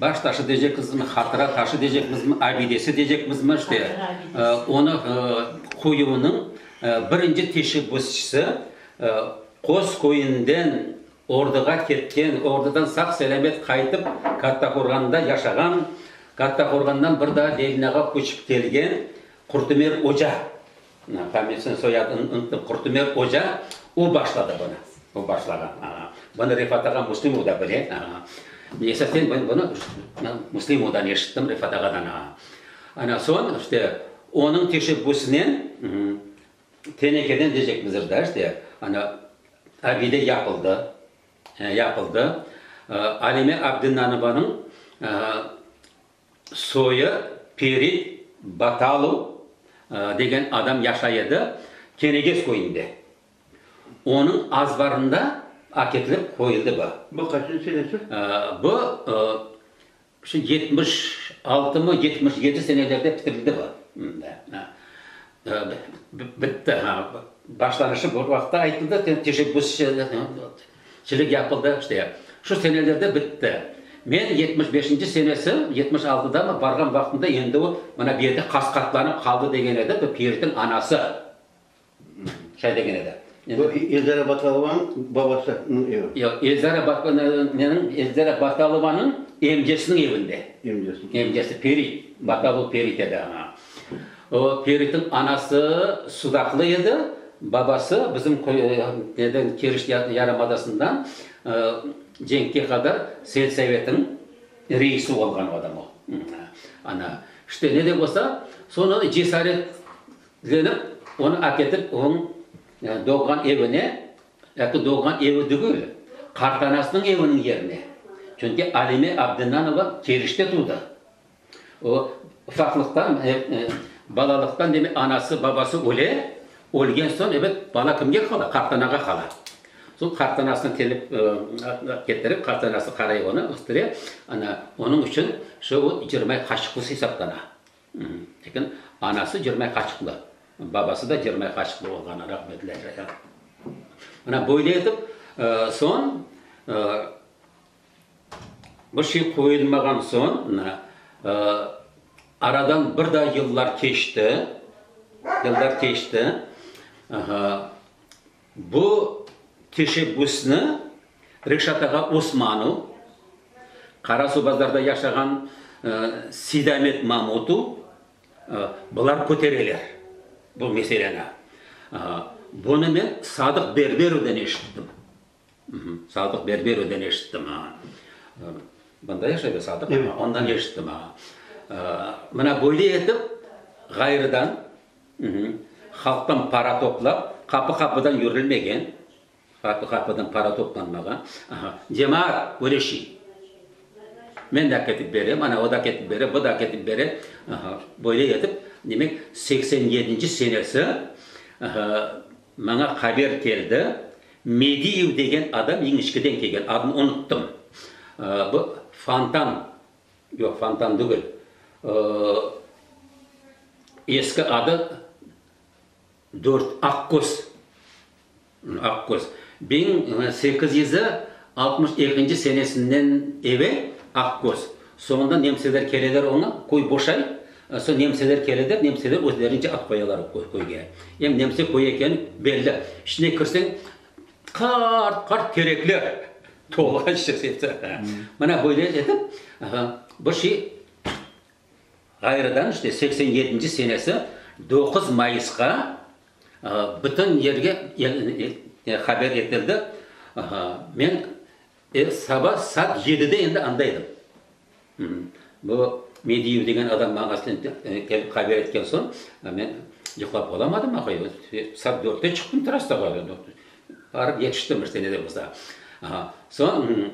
Baş taşı deycekmizmi, hatıra taşı deycekmizmi, abidesi deycekmizmi, işte, onı qoyuvnıñ birinci teşebbüsçisi Qoz köyünden orduğa ketken, ordudan sağ-selâmet qaytıp, Kattaqorğanda yaşağan, Kattaqorğandan bir daa Delinağa köçip kelgen Qurtumer oca. Famesin soyadını unutnıp Qurtumer oca o başladı bunı. O başladı. Bunı Refat ağa Muslimov da bile. Esasen men bunı Muslimovdan eşittim, Refat ağadan. Ana soñ işte onıñ teşebbüsinen tenekeden diyecekmizdir da işte ana abide yapıldı. Yapıldı. Alime Abdinanovanıñ Soyı Peri Batalu degen adam yaşay edi Kenegez köyünde. Onıñ azbarında aketilip qoyuldı bu. Bu qaçıncı senesi? Bu şu yetmiş altımı, yetmiş yedi senelerde bitirildi bu. Bitti, ha. Başlanışı bir vaqıtta aytıldı, teşebbüsçi. Çilik yapıldı, işte, şu senelerde bitti. Men yetmiş beşinci senesi, yetmiş altıdamı, barğan vaqtımda endi o, mana bu yerde qas-qatlanıp qaldı, degen edi, bu Piritniñ anası şay degen edi. Bu Eldara Batalovanıñ babasınıñ evi. Yoq, Eldara Eldara Batalovanıñ emcesiniñ evinde. Emcesi. Emcesi, Pirit, Batalov Pirit edi, aaa. O, Feritniñ anası sudaqlı edi, babası bizim köyden, Keriç yarımadasından cenkke qadar selsevetiñ reisi olğan adam o. Ana, işte, ne de bolsa, soñra da cesaretlenip, onı aketip onıñ doğğan evine, yaki doğğan evi tügül, qartanasınıñ eviniñ yerine, çünki Alime Abdinanova Keriçte tudı. O, ufaqlıqtan, balalıqtan, demek, anası, babası öle, ölgen soñ, ebet, bala kimge qala? Qartanağa qala. Soñ qartanasını kelip, ketirip, qartanası qaray onı, östüre. Ana, onıñ içün şu o Cirmay qaşıqlısı esaplana. Lekin anası Cirmay qaşıqlı, babası da Cirmay qaşıqlı olğanı rahmetli Aydar. Ana, böyle etip, soñ, Bir şey qoyulmağan soñ, aradan bir daa yıllar keçti, yıllar keçti. Bu teşebbüsni Reşat ağa Osmanov, Qarasuvbazarda yaşağan Seydamet Mamutov, bular kötereler bu meseleni. Bunı men Sadıq Berberovdan eşittim. Sadıq berber öden eşittim. Mında yaşay be Sadıq? Evet. Ondan eşittim. Mına böyle etip, ğayrıdan halqtan para toplap, qapı-qapıdan yürülmegen, qapı-qapıdan para toplanmağa. Cemaat küreşi. Men de ketip berem, ana o da ketip bere, bu da ketip bere. Böyle etip, demek, seksen yedinci senesi maña haber keldi. Mediyev degen adam Yeñişkeden kelgen, adını unuttım. Bu Fontan, yoq, Fontan degil, eski adı Dört, Aqköz, Aqköz. Biñ sekiz yüz altmış ekinci senesinden evel Aqköz. Soñundan nemseler keleler oña, köy boşay, soñ nemseler keleler, nemseler özlerince at qoyalar o köyge. Em nemse köyü ekeni belli. İçine kirseñ, qart-qart terekler tolğan şekilde. Mına böyle etip, bir şey ğayrıdan işte seksen yedinci senesi doquz mayısqa bütün yerge haber etildi. Men E, saba saat yedide endi anda edim. Bu Mediyev degen adam maña aslen kelip haber etken soñ, men yıqlap olamadım ahayı. Saat dörtte çıqtım trassağa, barıp yetiştim bir sene de bolsa. Aha, soñ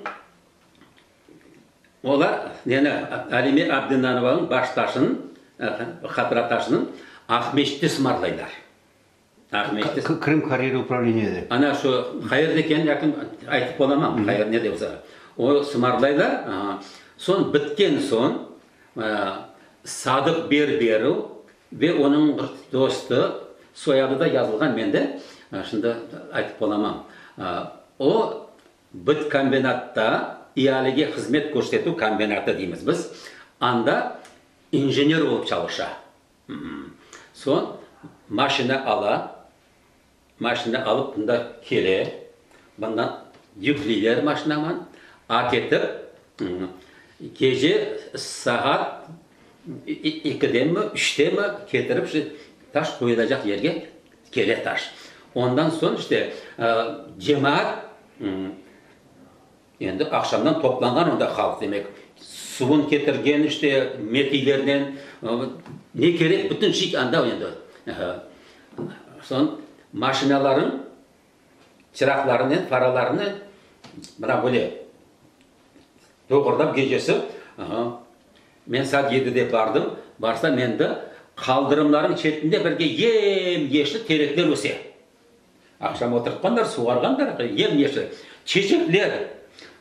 olar neni, Alime Abdinanovanıñ baş taşınıñ, hatıra taşınıñ Aqmescitte sımarlaylar. Qırım Karayeli upravleniye de. Ana şu qayerde eken yaqın aytıp olamam, qayer nede olsa. O sımarlaylar, soñ bitken soñ Sadıq Berberov ve onıñ bir dostu, soyadı da yazılğan mende, şimdi aytıp olamam. O bitkombinatta, ialege hızmet körsetüv kombinatı deymiz biz, anda injener olıp çalışa. Soñ maşina ala, maşina alıp bunda kele, bundan yükleyler maşinaman, aketip gece saat ekidenmi, üçtenmi ketirip şu taş qoyulacaq yerge kele taş. Ondan soñ işte cemaat Endi aqşamdan toplanğan onda halq, demek, suvun ketirgen, işte, mekiylernen, ne kerek, bütün şey anda endi. Soñ maşinalarnıñ çıraqlarınen, faralarınen mına böyle doğurdan gecesi, men saat yedide bardım, barsam endi qaldırımlarnıñ çetinde birge yem-yeşil terekler öse. Aqşam oturtqanlar, suvarğanlar yem-yeşil çeçekler,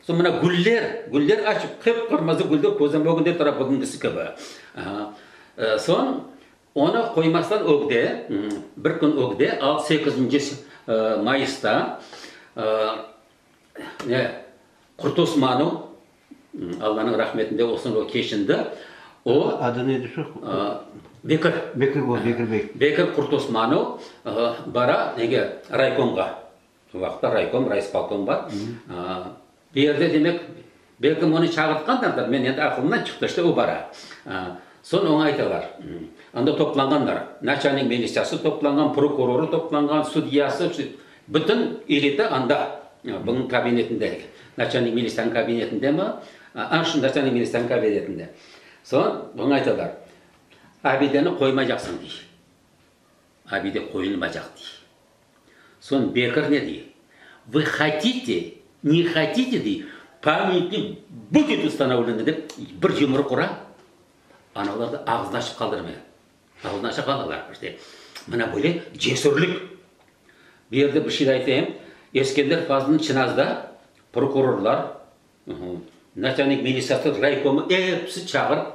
soñ mına güller, güller açıp, qıp-qırmızı güller közüm ögünde tura, bugüngisi kibi. Soñ onı qoymaslar ögde, bir kün ögde, altı, sekizinci mayısta Qurtosmanu, Allanıñ rahmetinde olsun o keçindi. O, Adı ne edi şu? Bekir. Bekir bo, Bekir bey. Bekir Kurtosmanov bara nege, raykomğa. O vaqıtlar raykom, raispolkom bar. Bu yerde demek, belkim onı çağırtqandırlar, men endi aqılımdan çıqtı, işte o bara. Soñ oña aytalar, anda toplanğanlar, naçalnik militsiası toplanğan, prokurorı toplanğan, sudyası. Bütün elita anda, bunıñ kabinetinde, naçalnik ministrniñ kabinetinde mi? A, şu naçalnik ministrniñ kabinetinde. Soñ buña aytalar, Abideni qoymaycaqsıñ, dey. Abide qoyulmaycaq, dey. Soñ Bekir ne dey? Vı hotite, ne hotite, dey, pamyatnik budet ustanovleniy, dep, bir yumruq ura, ana olardı ağzını açıp qaldırmay. Aldınasa balalar, işte, mına böyle cesürlik. Bu yerde bir şey de aytayım, Eskender fazlını Çınazda prokurorlar, naçalnik militsiyası raykomı episi çağırıp,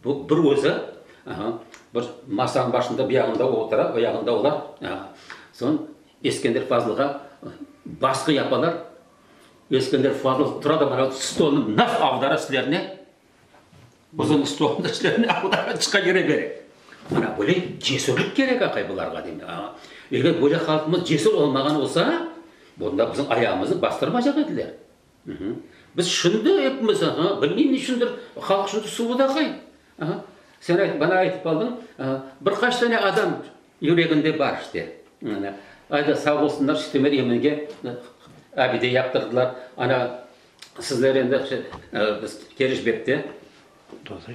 bu bir özü bir masanıñ başında, bir yağında o otura, o yağında olar, soñ Eskender fazlığa basqı yapalar, Eskender fazlı tura da, stolnı naq avdara sizlerni. Bizim İstoğunda işlerine Huday çıqa kire bere. Mana böyle cesürlik kerek aqay bularğa demek. Eger böyle halqımız cesür olmağan olsa, bunda bizim ayağımızı bastırmacaq ediler. Biz şimdi epimiz, bilmeyim ne içündir, halq şimdi suvut aqay. Sen ayt, bana aytıp qaldıñ, bir qaç tane adam yüreginde bar işte. Ay da sağ olsunlar, işte Meryeminge abide yaptırdılar, ana Sizler endi keriş bekte. Doğru.